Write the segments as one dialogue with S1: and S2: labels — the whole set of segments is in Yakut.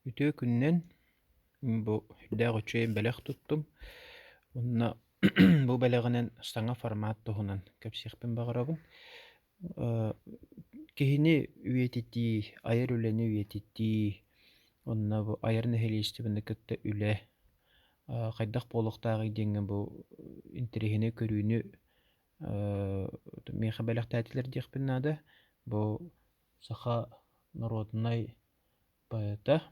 S1: Үтүө күнүнэн бу сүрдээх үчүгэй бэлэх туттум уонна бу бэлэҕинэн саҥа формат туһунан кэпсиэхпин баҕарабын. Киһини үйэтитии, айар үлэни үйэтитии уонна бу айар нэһилиэстибэни кытта үлэ хайдах буолуохтааҕый диэҥҥэ бу интэриэһинэй көрүүнү миэхэ бэлэхтээтилэр диэхпин наада. Бу саха норуодунай поэта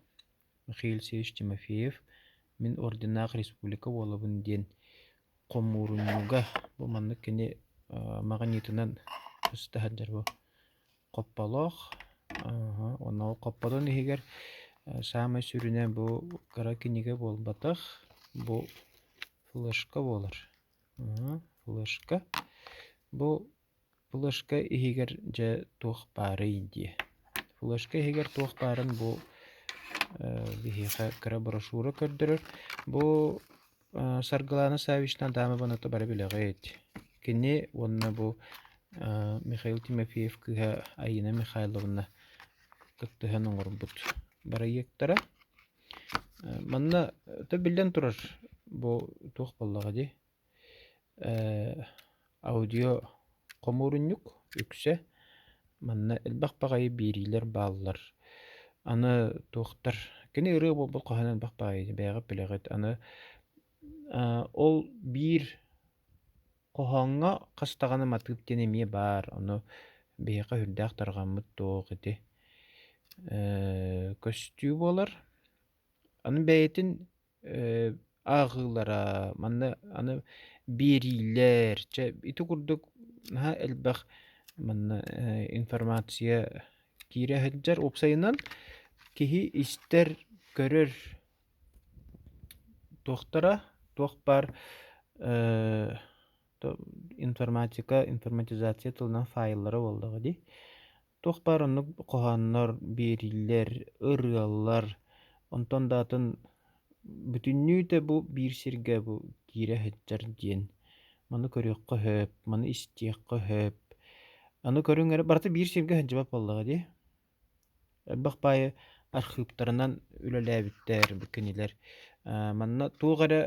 S1: Михаил Севич Тимофеев Мин орденнаах республика буолабын диэн хомуурунньуга бу маннык кини маҕаниитынан көстө сылдьар бу Хопполоох онно Хоппотун иһигэр саамай сүрүнэ бу кыра кинигэ буолбатах бу флешка буолар флешка бу Флешка иһигэр дьэ туох баарый дии. Флешка иһигэр туох баарын бу биһиэхэ кыра брошюра көрдөрөр. Бу Саргылана Савишна Даамабын ата бары билэҕит. Кини уонна бу Михаил Тимофеев кыыһа Айыына Михайловна кыттыһан оҥорбут бырайыактара. Манна то биллэн турар бу туох буоллаҕа дии? аудио-хомуурунньук үксэ манна элбэх баҕайы биэриилэр бааллар аны туохтар кини ырыа буолбут хаһан элбэх баҕайы бэйэҕит билэҕит аны ол биир хоһооҥҥо хас даҕаны матыып диэн эмиэ баар ону биһиэхэ үрдээх тарҕаммыт туох ити көстүү буолар аны бэйэтин ааҕыылара манна аны биэриилэр чэ ити курдук наһаа элбэх манна информация киирэ сылдьар уопсайынан киһи истэр көрөр туохтара туох баар информатика информатизация тылынан файллара буоллаҕа дии Туох баар оннук хоһооннор биэриллэр, ырыалар, онтон да атын бүтүннүүтэ бу биир сиргэ бу киирэ сылдьар диэн маны көрүөххэ сөп, маны истиэххэ сөп. Аны көрүҥ эрэ барыта биир сиргэ сылдьыбат буоллаҕа дии. Элбэх баайы архыыптарынан үлэлээбиттэр бу кинилэр. Манна туох эрэ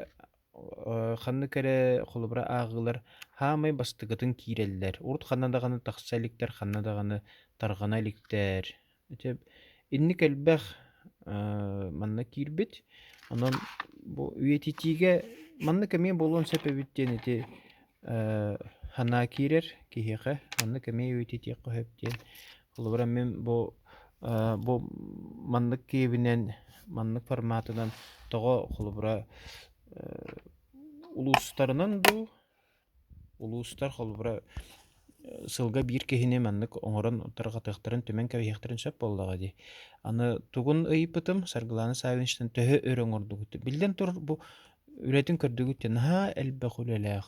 S1: Ханнык эрэ холобура ааҕыылар хаамай бастакытын киирэллэр. Урут ханна даҕаны тахса иликтэр, ханна даҕаны тарҕана иликтэр. Ити инник элбэх манна киирбит. Онон бу үйэтитиигэ маннык эмиэ буолуон сөп эбит диэн ити Санаа киирэр киһиэхэ маннык эмиэ үөйтэтиэххэ сөп диэн. Холобура мин бу бу маннык киэбинэн маннык форматынан тоҕо холобура улуустарынан дуу улуустар холобура сылга биир киһини маннык оҥорон тарҕатыахтарын түмэн кэбиһиэхтэрин сөп буоллаҕа дии. Аны тугун ыйыппытым Саргылана Саввиничтан төһө өр оҥордугут? Биллэн турар бу Үлэтин көрдүгүт диэн, наһаа элбэх үлэлээх,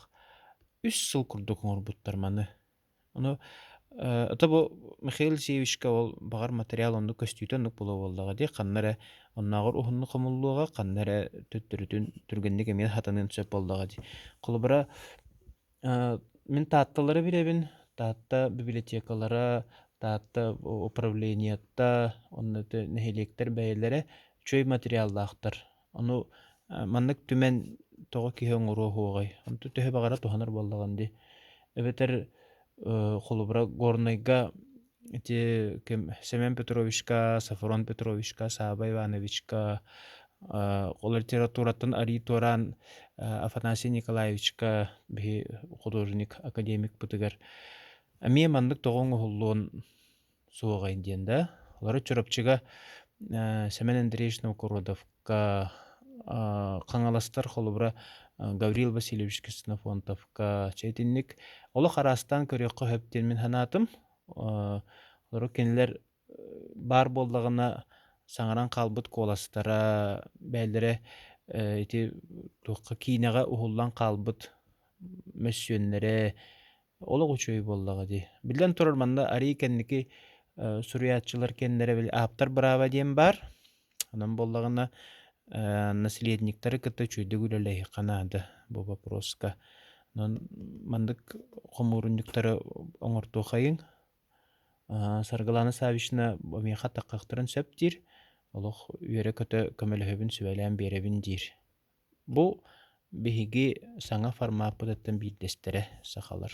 S1: үс сыл курдук оҥорбуттар маны. Ону ото бу Михаил Сивичка ол баҕар материал оннук көстүүтэ оннук буолуо буоллаҕа дии, ханна эрэ оннооҕор уһуннук хомуллуоҕа, ханна эрэ төттөрүтүн түргэнник эмиэ хатаныан сөп буоллаҕа дии. Холобура, мин Таатталары билэбин. Таатта библиотекалара, Таатта управлениета, онно нэһилиэктэр бэйэлэрэ үчүгэй материаллаахтар. Ону маннык түмэн тоҕо киһи оҥоруо уһуоҕай? Онту төһө баҕара туһанар буоллаҕын дии. Эбэтэр холобура Горнайга ити ким Семен Петровичка, Сафрон Петровичка, Саабай Ивановичка ол литератураттан арыый туораан Афанасий Николаевичка биһи художник, академик бытыгар эмиэ маннык тоҕо оҥоһуллуон Суоҕай диэн да. Олору Чурапчыга Семен Андреевич Новгородовка Хаҥаластар холобура Гаврил Васильевич Ксенофонтовка чэ итинник олох араастаан көрүөххэ сөп диэн мин санаатым. Олору кинилэр баар буоллаҕына саҥаран хаалбыт куоластара бэйэлэрэ ити туохха киинэҕэ уһуллан хаалбыт мөссүөннэрэ олох үчүгэй буоллаҕа дии. Биллэн турар, манна арыый кэнники э, суруйааччылар кэннэрэ били ааптар бырааба диэн баар. Онон буоллаҕына э, наследниктары кытта үчүгэйдик үлэлэһиэххэ наада бу вопроска. Онон маннык хомуурунньуктары оҥортуоххайыҥ. Э, Саргылана Савишна миэхэ таххахтарын сөп диир. Олох үөрэ-көтө көмөлөһөбүн, сүбэлээн биэрэбин диир. Бу биһиги саҥа формаппытыттан биирдэстэрэ сахалар